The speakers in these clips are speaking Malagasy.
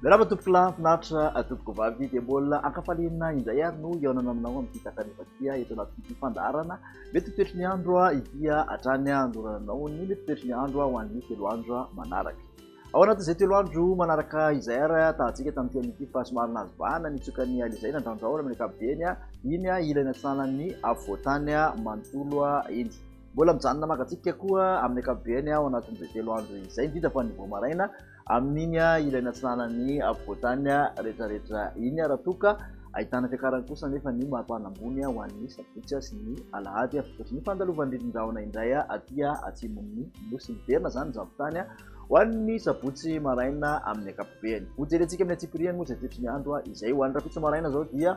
Miarahaba tompoko lahy finaritra atompoko vavy dia mbola ankafaliana indray ary no hihaonana aminao amin'ny fitakanefatia eto anatin'ity fandaharana mety ho toetry ny andro ity hatrany handorana anao ny mety toetry ny andro ho an'ny telo andro manaraka. Ao anatin'izay telo andro manaraka izay ary tahantsika tamin'ity amin'ity fa somary nahazo vahana nitsoka ny alizay nandraondraona amin'ny ankapobeny iny ilay natsanan'ny afovoantany manontolo iny. Mbola mijanona maka tsipika koa amin'ny ankapobeny ao anatin'izay telo andro izay indrindra fa ny vao maraina amin'iny ilay natsanan'ny afovoantany rehetrarehetra iny raha toa ka ahitana fiakarany kosa anefa ny mari-pana ambony ho an'ny sabotsy sy ny alahady. Ohatry ny fandalovan'ny ririndrahona indray aty atsimon'ny nosy. Miverina izany ny zavontany. ho an'ny sabotsy maraina amin'ny ankapobeny. Ho jerentsika amin'ny antsipiriany moa izay toetry ny andro izay. Ho an'ny rahampitso maraina izao dia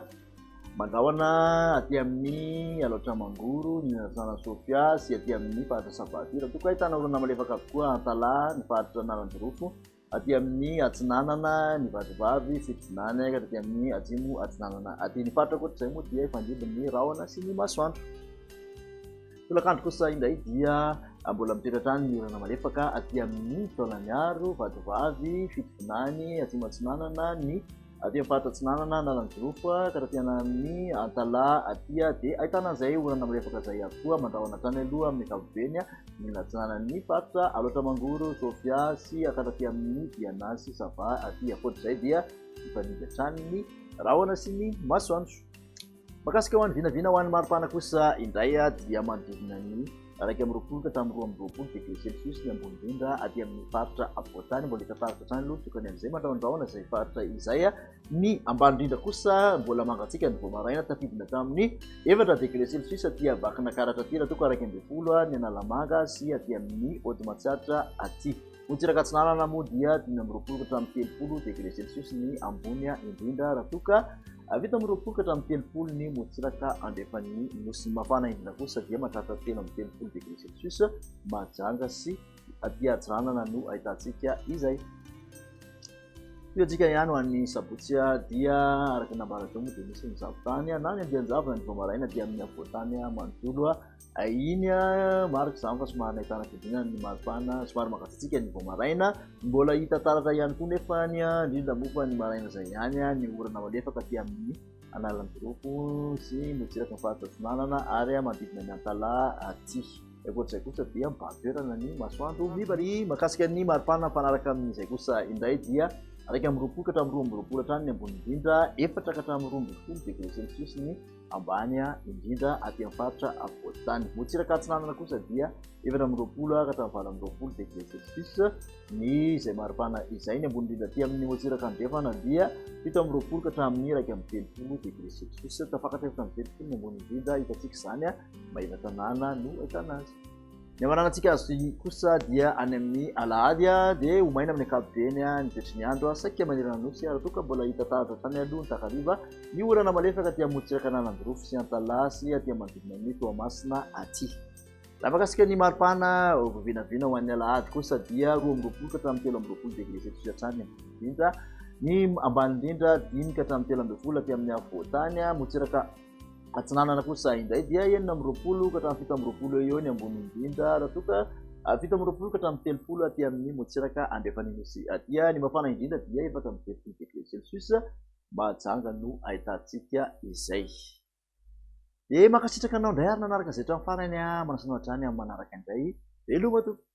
mandrahona aty amin'ny Alaotra Mangoro, ny Antananana Sofia sy aty amin'ny faritra Sabaty. Raha toa ka ahitana orana malefaka avokoa Antalaha, ny faritra Analanjirofo, aty amin'ny atsinanana, ny Vatovavy, Fitsinana, ka aty amin'ny atsimo atsinanana aty. Ny faritra ankoatr'izay moa dia hifandimby ny rahona sy ny masoandro. Tolakandro kosa indray dia mbola mitoetra hatrany ny orana malefaka aty amin'ny taolaniaro, vatovavy, fitovinany, atsimo atsinanana, ny aty amin'ny faritra atsinanana, analanjirofo, ka taty amin'ny antalaha aty dia ahitana an'izay orana malefaka izay ihany koa mandrahona hatrany aloha amin'ny ankapobeny ny atsinanan'ny faritra, alaotra mangoro, sofia sy ka taty amin'ny diana sy sava aty, ankoatra izay dia mifanindry hatrany ny rahona sy ny masoandro. Mahakasika ho an'ny vinavina ho an'ny maripana kosa indray dia manodidina ny iraika amby roapolo ka hatramin'ny roa amby roapolo degré celsius ny ambony indrindra aty amin'ny faritra afovoantany. Mbola hita taratra hatrany aloha tokony amin'izay mandrahondrahona izay faritra izay. Ny ambany indrindra kosa mbola mangatsiaka ny vao maraina, tafidina hatramin'ny efatra degré celsius aty Vakinankaratra aty raha toa ka iraika ambin'ny folo ny Analamanga sy aty amin'ny Ody Matsiatra aty. Morontsiraka Atsinanana moa dia dimy amby roapolo ka hatramin'ny telopolo degré celsius ny ambony indrindra raha toa ka vita amin'ny roapolo ka hatramin'ny telopolo ny morontsiraka andrefan'ny nosy. Ny mafana indrindra kosa dia mahatratra telo amby telopolo degré celsius, Mahajanga sy aty atsinanana no ahitantsika izay. Io antsika ihany ho an'ny sabotsy dia araka ny nambarantsika moa dia misy ny zavotany na ny andian-javona ny vao maraina dia amin'ny afovoan-tany manontolo. Iny an, marika izany fa somary nahitana fiodinana ny maripana, somary mangatsiatsiaka ny vao maraina. Mbola hita taratra ihany koa nefa ny an, indrindra moa fa ny maraina izay ihany an, ny orana malefaka aty amin'ny analan'ny Jirofo sy motsiraky ny faritra Atsinanana ary manodidina ny Antalaha aty. Ny ankoatr'izay kosa dia mibahan toerana ny masoandro mivariana. Ny mahakasika ny maripana mifanaraka amin'izay kosa indray dia iraika amby roapolo ka hatramin'ny roa amby roapolo hatrany ny ambony indrindra, efatra ka hatramin'ny roa ambin'ny folo degré celsius ny ambany indrindra aty amin'ny faritra afovoan-tany. Motsiraka atsinanana kosa dia efatra amby roapolo hatramin'ny valo amby roapolo degré celsius ny izay maripana izay. Ny ambony indrindra aty amin'ny motsiraka andrefana dia fito amby roapolo ka hatramin'ny iraika amby telopolo degré celsius. Tafakatra efatra amby telopolo ny ambony indrindra hitantsika izany Maevatanàna no ahitana azy. Ny hamarana antsika azo toy ny kosa dia any amin'ny alahady dia ho maina amin'ny ankapobeny ny toetry ny andro saika manerana nosy raha toa ka mbola hita taratra hatrany aloha ny takariva ny orana malefaka aty amorontsiraka an'Ananjirofo sy Antalaha sy aty manodidina ny Toamasina aty. Raha mahakasika ny maripana vao vinavina ho an'ny alahady kosa dia roa amby roapolo ka hatramin'ny telo amby roapolo degré celsius hatrany ambony indrindra ny ambany indrindra dimy ka hatramin'ny telo ambin'ny folo aty amin'ny afovoantany amorontsiraka Atsinanana kosa indray dia enina amby roapolo ka hatramin'ny fito amby roapolo eo eo ny ambony indrindra raha toa ka fito amby roapolo ka hatramin'ny telopolo aty amin'ny motsiraka andrefan'ny Nosy aty. Ny mafana indrindra dia efatra amby telopolo degre celsius mahajanga no ahitantsika izay. Dia mankasitraka anao indray ary nanaraka izay hatramin'ny farany aho. Manasa anao hatrany amin'ny manaraka indray. Veloma tompoko.